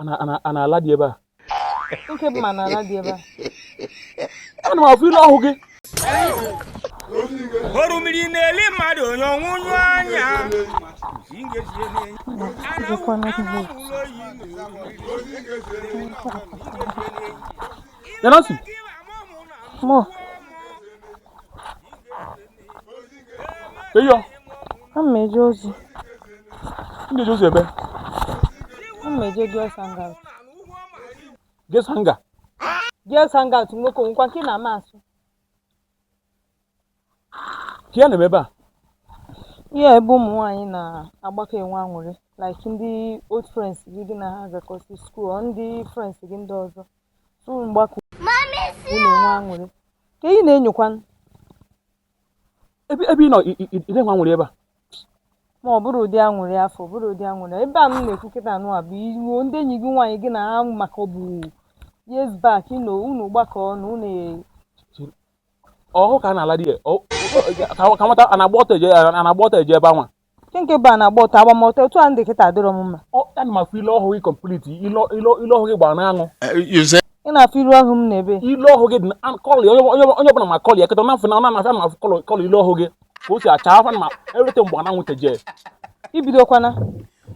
a na-ala dị ebe a nke bụ ma na-ala dị ebe a ana m afụ ile ọhụ gị orumiri na-eli mmadụ onye ọnwụ nyụ anya Nancy. Mo. eyo Ana m eje ozi. ị na-eje ozi ebe Ana m eje girls hangout. girls hangout Girls hangout nwoke o nwekwa nke ị na-ama asụ. kee ihe a na-eme ebe a Ihe a ebe ụmụ nwaanyị na-agbakọ enwe anwụrị like ndị old friends gị gị na ha gakọsị school or ndị friends gị ndị ọzọ. unu gbakọ na-enwe anwụrị ka ị na-enyokwa ebe ị nọ ị na-enwe anwụrị ebe a ma ọ bụrọ ụdị anwụrị afụ ọ bụrọ ụdị anwụrị ebe a m na-ekwu kịta anwa bụ iruo ndị enyi gị nwaanyị gị na ha makọbu years back you know unu gbakọ na unu ọhụ ka a na-ala di ya ka nwata a na-agba ọtọ eje ebe anwa Nke nke bụ a na-agba ọtọ agba m ọtọ otu a m dị kịta adịrọ m mma. Ọ ana m afụ ile ọhụ gị complete ile ile ile ọhụ gị gbara n'anwụ. Ị na-afụ ile ọhụ m n'ebee. Ile ọhụ gị dị na an- kpọlị onye onye onye ọbụla ma kpọlị ya kịta ọ na-afụ na ọ na-afụ ana m afụ colour colour ile ọhụ gị ka o si acha afọ na ma erute mgbe ọ na-anwụ teje. I bidokwana.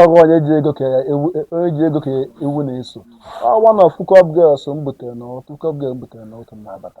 ọ bụ onye ji igu ka ewu na-eso one of hookup girls m butere na otu hookup girl m butere na otu m na-abata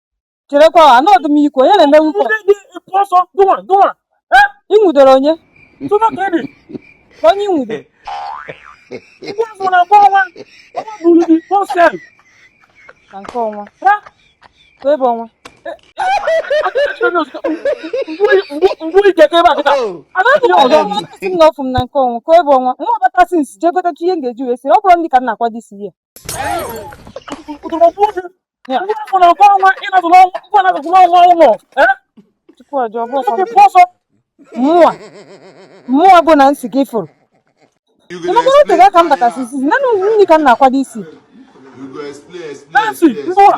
cherekwa anụrọ m i kwu onye na-eme hookup ị nwụdoro onye onye nwudo na nke ọnwa ebe ọnwa nna ọfụ m na nke ọnwa ka ebe ọnwa nwa ọbata since jee gotachi ihe m ga-eji wee sie ọ bụrọ nri ka m na-akwado isi ya mụwa mụwa bụ Nancy ka ị fụrụ ị makwa na o tego aka m batasị since na nri ka m na-akwado isi Nancy, mbụwa